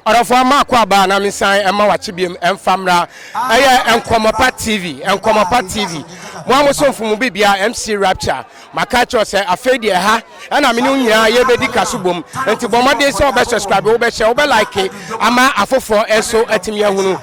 Ɔdɔfoɔ ama akɔ aba a na me san ɛma wakye biam ɛmfa mmra ɛyɛ Nkɔmɔpa TV Nkɔmɔpa TV mo a mo somfo mo bibia MC Rapture maka akyerɛ sɛ afei deɛ ha ɛna me ne wo nyinaa yɛbɛdi kaso bom nti bɔ mmɔden sɛ wobɛ subscribe wobɛ share wobɛ like ama afoforɔ nso atumi ahunu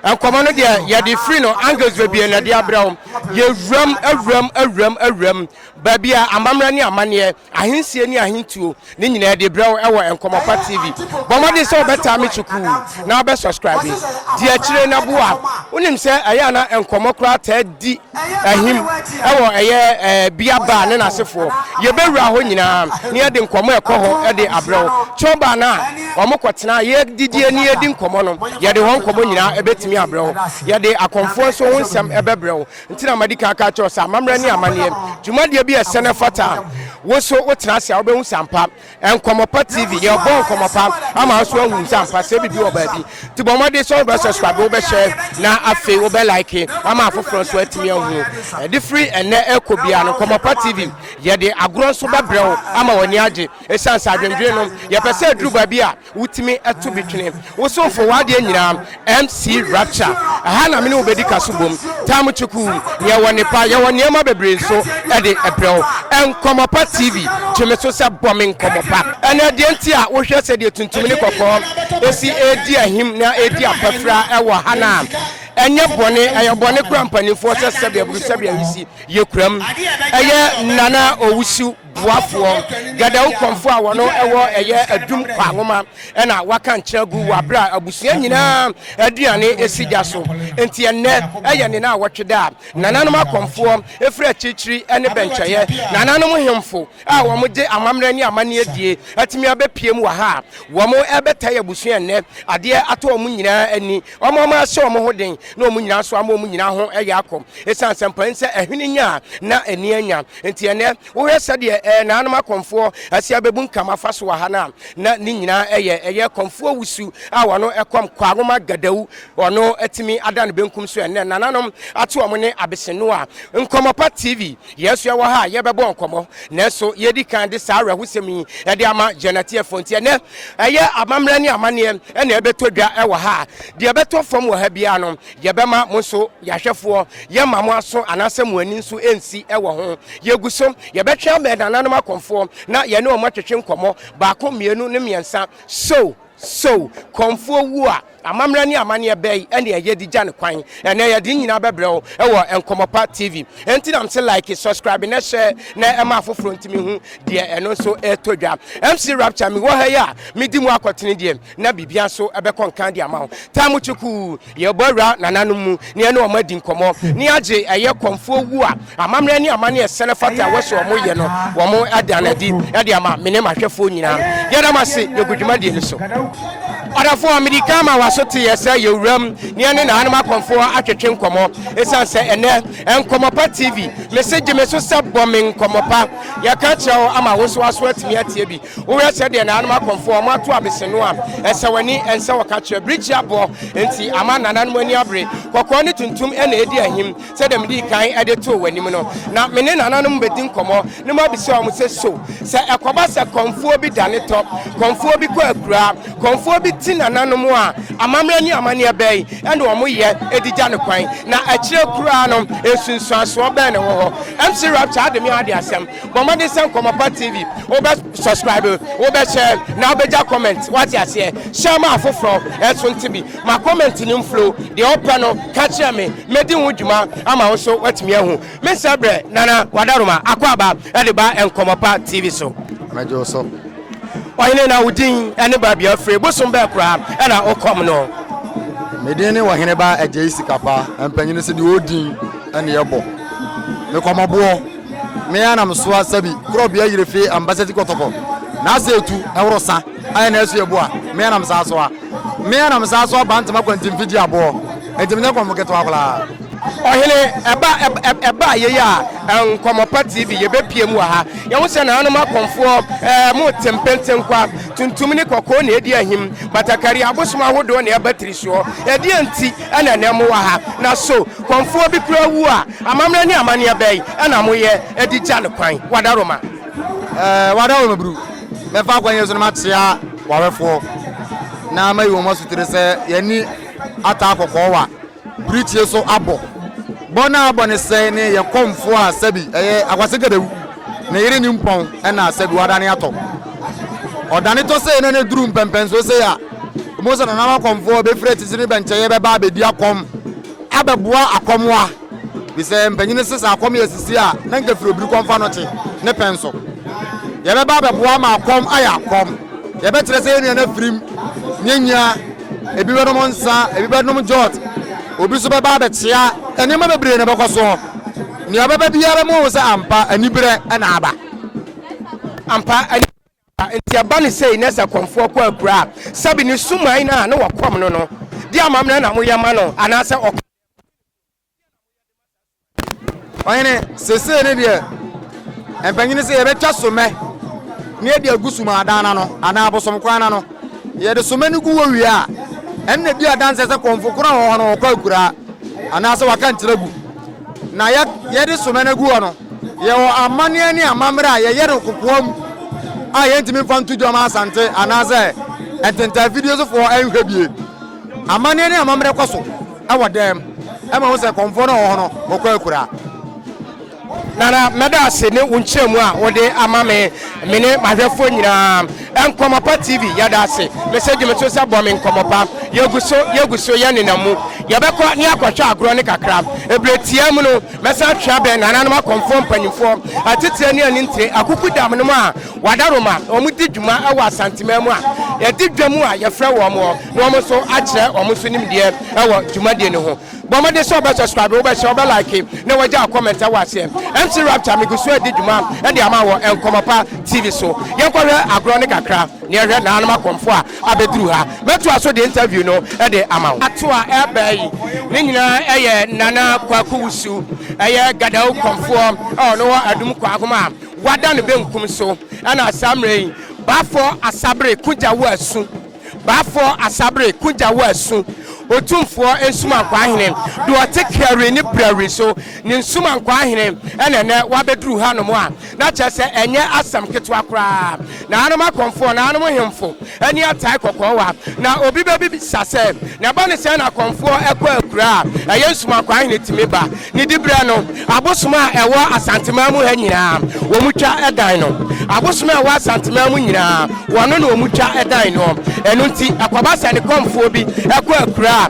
nkɔmɔ no deɛ yɛde firi no angles bebie na ɛde abrɛ wo yɛwuram awuram awuram awuram baabi a amammerɛ ne amanneɛ Ahensie ne Ahentuo ne nyinaa adi brɛ wo ɛwɔ Nkɔmmɔpa TV. Bɔ mmɔden sɛ wobɛtaa me kyukuu na wobɛ subscribe. Di akyire na boa. Wonim sɛ ɛyɛ ana nkɔmmɔ koraa taa di ahim ɛwɔ ɛyɛ bia baa ne n'asefoɔ. Yɛbɛwura hɔ nyinaa na yɛde nkɔmmɔ ɛkɔ hɔ ɛde abrɛ wo. Kyɛw baa no a wɔn kɔtena yɛdidie ne yɛdi nkɔmmɔ no yɛde hɔ nkɔmmɔ nyinaa ɛbɛtumi abrɛ wo. Yɛde akɔmfoɔ nso ho nsɛm ɛbɛbrɛ wo. Nti na madi kan aka akyerɛ wo sɛ amammerɛ ne amanneɛ dwumadie bi yɛ sɛ na ɛfata a wo nso wotena ase a wobɛhu sɛ ampa Nkɔmmɔ Pa TV yɛ ɔbɔ nkɔmmɔ pa ama wo nso ahunu sɛ ampa sɛ biribi wɔ baabi nti bɔ mmɔden sɛ wobɛ subscribe wobɛ share na afei wobɛ like ama afoforɔ nso atumi ahunu ɛde firi ɛnɛ ɛkɔ biara no Nkɔmmɔ Pa TV yɛde agorɔ nso bɛbrɛ wo ama w'ani agye ɛsiane sɛ adwendwene no yɛpɛ sɛ aduru baabi a Wotumi to bi twene. Wo somfo w'adeɛ nyinaa MC Rapture. Ɛha na me ne wo bɛdi ka so bom. Tam Kyeku, yɛwɔ nnepa, yɛwɔ nneɛma bebree nso de brɛ wo. Nkɔmmɔ Pa TV, gye me so sɛ bɔ me nkɔmmɔ pa. Ɛnna deɛ nti a wohwɛ sɛdeɛ tuntum ne kɔkɔɔ si redi ahim na ɛredi apafira wɔ ha no a, ɛnyɛ bɔne, ɛyɛ bɔne koraa mpanimfoɔ sɛ sɛdeɛ aburu sɛdeɛ awisi yɛkuram. Ɛyɛ Nana Owusu. boafoɔ, Gadawukɔmfoɔ a wɔn ɛwɔ ɛyɛ adum kwa nwoma ɛna waka nkyerɛ agu wɔ abere a abusua nyinaa aduane ɛsi gya so. Enti ɛnnɛ ɛyɛ ne naawɔtwe da a nananom akɔmfoɔ ɛfiri akyirikyiri ɛne bɛnkyɛeɛ nananom hemfo a wɔn gye amammerɛ ne amanneɛ die atumi abɛpiem wɔ ha a wɔn ɛrebɛtae abusua ɛnnɛ adeɛ atɔ wɔn nyinaa ani wɔn ama ahyɛ wɔn ho den na wɔn nyinaa nso ama wɔn nyinaa ho ɛyɛ akɔ ɛsiane sɛ mpanin sɛ ɛhwene nya a na ani anya Enti ɛnnɛ, wohwɛ sɛdeɛ ɛɛ naanom akɔmfoɔ asi abebunkam afa so wɔ ha no a, na ne nyinaa ɛyɛ ɛyɛ kɔmfoɔ wusu a wɔn ɛkɔm Kwaroma Gadau ɔno atumi ada ne benkum so ɛnnɛ nananom ate wɔn ne Abesenoa Nkɔmɔpa TV yɛn nso ɛwɔ ha a yɛbɛbɔ nkɔmɔ nanso yɛdi kan de saa awerɛhosɛm yi ɛde ama yɛn atiefoɔ nti ɛnnɛ ɛyɛ amammerɛ ne amanneɛ ɛna ɛbɛtɔ dwa ɛwɔ ha a deɛ ɛbɛtɔ fam wɔ ha biara no Yɛbɛma mo nso yɛahwɛfoɔ, yɛmma mo aso anaasɛ mo ani nso nsi wɔ ho. Yɛgu so, yɛbɛtwe abɛn nananom akɔmfoɔ na yɛne wɔn atwetwe nkɔmmɔ, baako, mmienu, ne mmiɛnsa. So! So! Kɔmfoɔ wu a, amammerɛ ne amanneɛ bɛn na ɛyɛ de gya no kwan? Ɛnnɛ yɛde ne nyinaa bɛbrɛ wo wɔ Nkɔmmɔpa TV. Enti na mese like, subscribe, na share na ɛma afoforɔ ntumi hu deɛ ɛno nso ɛretɔ dwa. MC Rapture, mewɔ ha yi a medi mu akɔtene deɛ, na biribia nso bɛkɔ nkan de ama wo. Tam Kyekuu, Yɛbɔ awura nananom mu na yɛne wɔn adi nkɔmmɔ na yɛagye ɛyɛ kɔmfoɔ wu a amammerɛ ne amanneɛ sɛn fata a ɛwɔ sɛ wɔyɛ no, wɔn ada no adi de ama me ne m'ahwɛfoɔ nyinaa. Yɛda mo ase, yɛgu dwumadie no so. Ɔdɔfoɔ, mede kan ma w'asoteɛ sɛ yɛ wuram na yɛne nananom akɔmfoɔ atwetwe nkɔmmɔ. Ɛsiane sɛ ɛnnɛ Nkɔmmɔ Pa TV, mese gye me so sɛ bɔ me nkɔmmɔ pa. Yɛka kyerɛ wo ama wo nso w'aso atumi atie bi. Wohwɛ sɛdeɛ nananom akɔmfoɔ wɔn ato abeseno a, ɛsɛ w'ani, ɛnsɛ wɔ ka kyerɛ. Birikyi abɔ nti ama nananom ani abere. Kɔkɔɔ ne tuntum na ɛdi ahim, sɛdeɛ medii kan de too w'anim no. Na me ne nananom bɛdi nkɔmmɔ na mabisa wɔn sɛ, So sɛ ɛkɔba sɛ kɔmfoɔ bi da ne tɔ, kɔmfoɔ bi kɔ akuraa, kɔmfoɔ bi ti nananom a, amammerɛ ne amanneɛ bɛn na wɔyɛ de gya no kwan? Na akyire koraa no, nsunsuansoɔ bɛn na ɛwɔ hɔ? MC Rapture ade me ade asɛm. Bɔ mmɔden sɛ Nkɔmmɔpa TV wobɛ subscribe, wobɛ share na wobɛgya comment wate aseɛ. Share ma afoforɔ nso nte bi. Ma comment no mflow. Deɛ wopɛ no ka kyerɛ me, mɛdi ho dwuma ama wo nso woatumi ahu. Mensɛ berɛ, Nana Wadaroma Akwaaba de ba Nkɔmmɔpa TV so. Mɛgye wo so. Ɔhene na wo din ne baabi a wofire, bosom bɛɛ koraa na wokɔm no? Me din ne Ɔheneba Agyei Sikapa, mpanyini so deɛ ɔwɔ din ne yɛbɔ. Mekɔmɔboɔ. Me ara na mesoa sabi korɔ bea yire fee ambasa ti kɔtɔkɔ na asɛ etu ɛworo sa ayɛ na ɛso ɛbu a me ara na mesaa soa me ara na mesaa soa bantama kwanti mfe di aboɔ nti menyɛ kɔmfo ketewa koraa. Ɔhene, ɛba ɛba yei a, Nkɔmmɔpa TV, yɛbɛpue mu wɔ ha. Yɛhu sɛ nananom akɔmfoɔ eh, mote mpentenkwa, tuntum ne kɔkɔɔ na ɛdi ahim, batakari, abosom ahodoɔ na ɛba tirisoɔ. Ɛdeɛ nti na ɛnɛ mowɔ ha? Na so kɔmfoɔ bi koraa wu a, Amammerɛ ne amanneɛ bɛn na moyɛ de gya no kwan? Wadaroma. Eh, Wadaroma Bru, mɛfa kwan yi so na makyea w'awɛfoɔ na mayi wɔn asutire sɛ yɛne ataa kɔkɔɔwa birikyie so abɔ. Bɔ no a abɔ no sɛ ne yɛn kɔmfoɔ a sɛbi ɛyɛ Akwase Gadawu, ne yere Nimpɔn na sɛbi wadane atɔ. Ɔdane tɔ sei na ne duru mpɛmpɛnsoɔ sei a, wobɛhu sɛ Nana Wakɔmfoɔ bɛfiri akyirikyiri ne bɛnkyɛeɛ bɛba abɛdi akɔm. abɛboa akɔmoa bisɛ mpanyin no se sɛ akɔm yɛ sisi a na nka firi obirikɔ mfa no te ne pɛn so yɛbɛba abɛboa ama akɔm ayɛ akɔm yɛbɛkyerɛ sɛ yɛn nua no afirim nyanyia ebi bɛnom nsa ebi bɛnom jot obi so bɛba abɛkyea nneɛma bebree na ɛbɛkɔ soɔ nea ɔbɛba biara mu sɛ ampa aniberɛ na aba ampa Enti ɛba no sei, na sɛ kɔmfoɔ kɔ abura a, sɛbe ne suman no a na wɔkɔm no no de amammerɛ na moyɛ ma no, anaasɛ ɔkɔm deɛ, mote ne suman no bi? Ɔhene, seesei no deɛ, mpanyini se, Yɛbɛtwa sommɛ na yɛde agu sumadan no ano, anaa abosom kwan no ano. Yɛde sommɛ no gu hɔ wie a, ɛno na ɛdi adanseɛ sɛ kɔmfo korɔ a ɔwɔ hɔ no, ɔkɔ akuraa, anaasɛ waka nkyerɛgu. Na yɛde sommɛ no agu hɔ no, Yɛwɔ amanneɛ ne amammerɛ a yɛyɛ no kokoam a yɛntumi mfa nto dwa ma Asante anaasɛ ntentan afidie sofoɔ nhwɛ bie. Amanneɛ ne amammerɛ kɔ so wɔ dɛm ma wo sɛ kɔmfoɔ no a ɔwɔ hɔ no bɔkɔ akuraa. Nana, mɛda ase ne wo nkyerɛmu a wode ama me, me ne m'ahwɛfoɔ nyinaa. Nkɔmmɔ Pa TV, yɛda ase. Me sɛ dwumakuo sɛ bɔ me nkɔmmɔ pa. Yɛgu so, yɛgu so, yɛnenam mu. Yɛbɛkɔ ne yɛakɔhwɛ agorɔ no kakra. Berɛ tiaa mu no, Mɛsan atwe abɛn nananom akɔmfoɔ mpanimfoɔ atitire ne anintire akuku dam nom a wɔada roma na wɔn di dwuma wɔ Asanteman mu a yɛde dwa mu a yɛfrɛ wɔn hɔ na wɔn nso akyerɛ wɔn nso nimdeɛ wɔ dwumadie no ho. Bɔ mmɔden sɛ wobɛ subscribe, wobɛ share, wobɛ like na wagya comment wɔ aseɛ. MC Rapture megu so adi dwuma de ama wɔ Nkɔmmɔ Pa TV so. Yɛnkɔhwɛ agorɔ no kakra na yɛhwɛ nananom akɔmfoɔ a abeduru ha. Mɛtoa so de interview no de ama wo. Ato a ɛreba yi ne nyinaa yɛ Nana Kwaku Wusu, ɛyɛ Gadao kɔmfoɔ a ɔno wɔ Adum Kwaahom a wada ne benkum so. Ɛna saa mmerɛ yi Baafoɔ Asabere ko gya wo asu, Baafoɔ Asabere ko gya wo asu, Otumfoɔ Nsumankwaa Hene deɛ ɔte Krɛwere ne Brɛwere so, ne Nsumankwaa Hene ɛna ɛnɛ wabɛduru hanom a. Na kyerɛ sɛ ɛnyɛ asɛm ketewa koraa. Nananom akɔmfoɔ, nananom hemfo ani atae kɔkɔɔwa. Na obi bɛbisa sɛ, Na ɛba no sɛn na akɔmfoɔ kɔ akuraa a ɛyɛ nsumakwaa he na etumi ba? Ne diberɛ no, abosom a ɛwɔ Asanteman mu ha nyinaa, wɔtwa dan no. Abosom a ɛwɔ Asanteman mu nyinaa, wɔno na wɔtwa dan noɔ. Ɛno nti, ɛkɔba sɛ ne kɔmfoɔ bi kɔ akuraa a,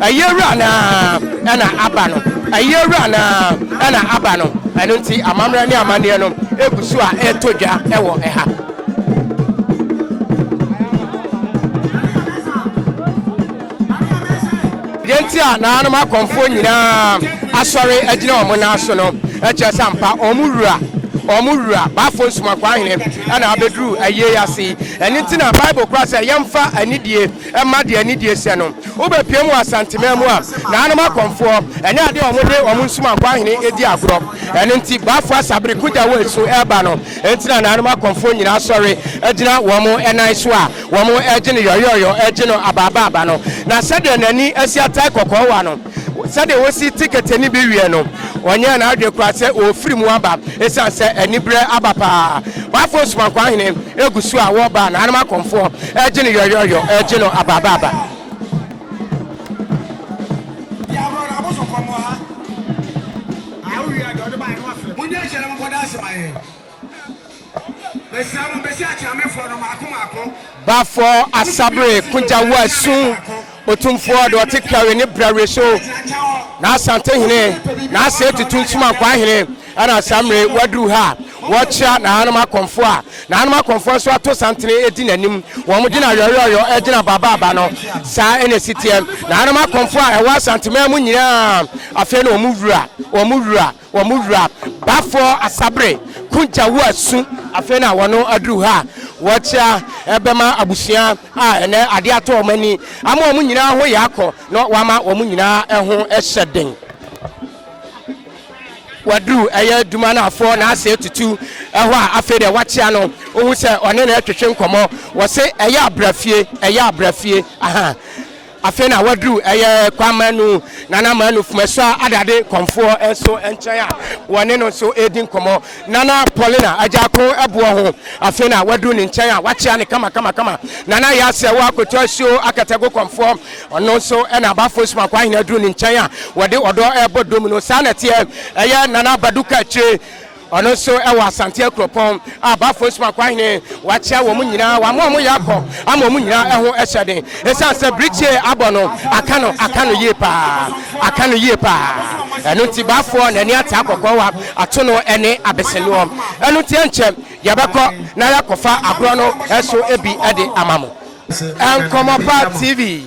Ayie wura no ara na aba no, ayie wura no ara na aba no. Ɛno nti amammerɛ ne amanneɛ no gu so a ɛretɔ dwa wɔ ha. Deɛ nti a naanom akɔmfoɔ nyinaa asɔre agyina wɔn nan so no kyerɛ sɛ ampa wɔn wura wɔn wura baafo nsomakwaa hene na abɛduru ayie ase yi. Ɛno nti na Bible kora sɛ yɛmfa anidie Ɛmma deɛ anidie sɛ no wobɛpiam wɔ Asanteman mu a naanom akɔmfoɔ ɛnyɛ adeɛ a wɔde wɔn nsumankɔ ahene di agorɔ. Ɛno nti Bafo Asa bere ko gya wɔ esu reba no nti na naanom akɔmfoɔ nyinaa sɔre gyina wɔn nan so a wɔregye no yɔyɔɔyɔ, regye no abaabaaba no. Na sɛdeɛ n'ani asi atae kɔkɔɔ wa no, sɛdeɛ wɔsi te kɛtɛ no bi wiɛ no ɔnyɛɛ n'adwene koraa sɛ ɔrefiri mu aba ɛsiane sɛ aniberɛ aba paa waafo nsomankwa hene ɛgu so a wɔba na anom akɔmfoɔ ɛregye no yɔyɔyɔ ɛregye no abaabaaba Bafɔɔ Asabre Kogya Wo Asu Otumfoɔ de ɔte kari ne bra wire so N'Asante hene n'ase atutu Nsomankwaa hene ɛna saa mmere waduru ha Wɔkyea n'ahanom akɔmfo a N'ahanom akɔmfoɔ nso ato santene adi n'anim Wɔn de na yɔyɔyɔ gyina baabaaba no Saa na ɛsi teɛ N'ahanom akɔmfo a ɛwɔ Asanteman mu nyinaa Afei na wɔn wura wɔn wura Wɔn mu wura bafoɔ Asabere Kunjawu Asu afei na wɔn aduru ha a wɔrekyea ɛbɛma abusua a ɛnɛ adeɛ atɔ wɔn ani ama wɔn nyinaa ho yɛ akɔ na wɔama wɔn nyinaa ho hyɛ den. waduru ɛyɛ dumanafoɔ n'ase atutu ɛhɔ a afei deɛ wakyea no wohu sɛ ɔne no ɛtwetwe nkɔmmɔ wɔ se ɛyɛ abrafie ɛyɛ abrafie aha Afei na waduru ɛyɛ Kwamanu Nana Manu Fumesua Adade Kɔmfoɔ nso nkyɛn a wɔne no nso redi nkɔmmɔ. Nana Paulina Agyarko boɔ ho. Afei na waduru ne nkyɛn a wakyea no kamakamakama. Nana Yaseɛ Woah Kotɔ Asuo Akatago Kɔmfoɔ, ɔno nso na Abafo Nsomankwa Ahene aduru ne nkyɛn a wɔde ɔdɔ rebɔ dom no. Saa na ɛteɛ ɛyɛ Nana Badu Kakyire. Ɔno nso wɔ Asante akuropɔn a Bafo Nsumankwa hene wakyia wɔn nyinaa, wama wɔn yɛ akɔ ama wɔn nyinaa ho hyɛ den. Esiane sɛ birikyie abɔ no, aka no aka no yie paa, aka no yie paa. Ɛno nti Bafoɔ n'ani ataa kɔkɔɔwa, atono ne abesenoɔ. Ɛno nti ɛnkyɛ yɛbɛkɔ na yɛakɔfa agorɔ no nso bi de ama mo. Nkɔmmɔpa TV.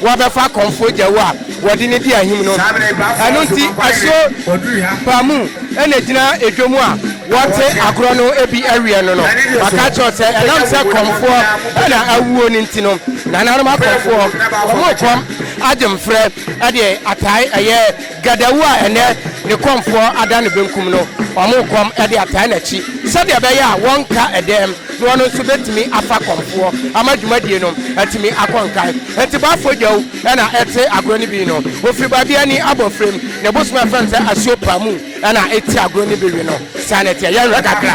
Wɔabɛfa Kɔmfoɔ Gyawu a wɔde no di ahim no. Ɛno nti asuo pa mu na ɛgyina edwom a wɔte agorɔ no bi awiɛ no no. Maka akyerɛ wo sɛ ɛnam sɛ Kɔmfoɔ na awuo no nti no, Nananom Akɔmfoɔ, wɔn repɔ Agyemfrɛ de atae ɛyɛ. Gadawu a ɛnnɛ ne kɔmfoɔ ada ne benkum no, wɔn kɔm de ataa n'akyi sɛdeɛ ɛbɛyɛ a wɔnka dɛm na ɔno nso bɛtumi afa kɔmfoɔ ama dwumadie no atumi akɔ nkan. Enti Boafo Gyawu na ɛte agorɔ no bi no. Ɔfiri baabi a ani abɔ frem. Ne bosom a yɛfrɛ no sɛ Asuo Pamu na ɛti agorɔ no bi we no. Saa na ɛteɛ. Yɛnhwɛ kakra.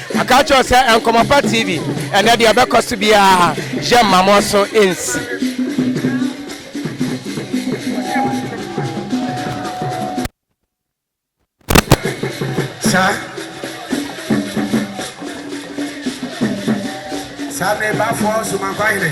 Maka akyerɛ wo sɛ Nkɔmmɔpa TV, ɛnɛ deɛ ɛbɛkɔ so biara, yɛ mma mo so nsi. Saa saa bere bafoɔ nso mankɔ ahene.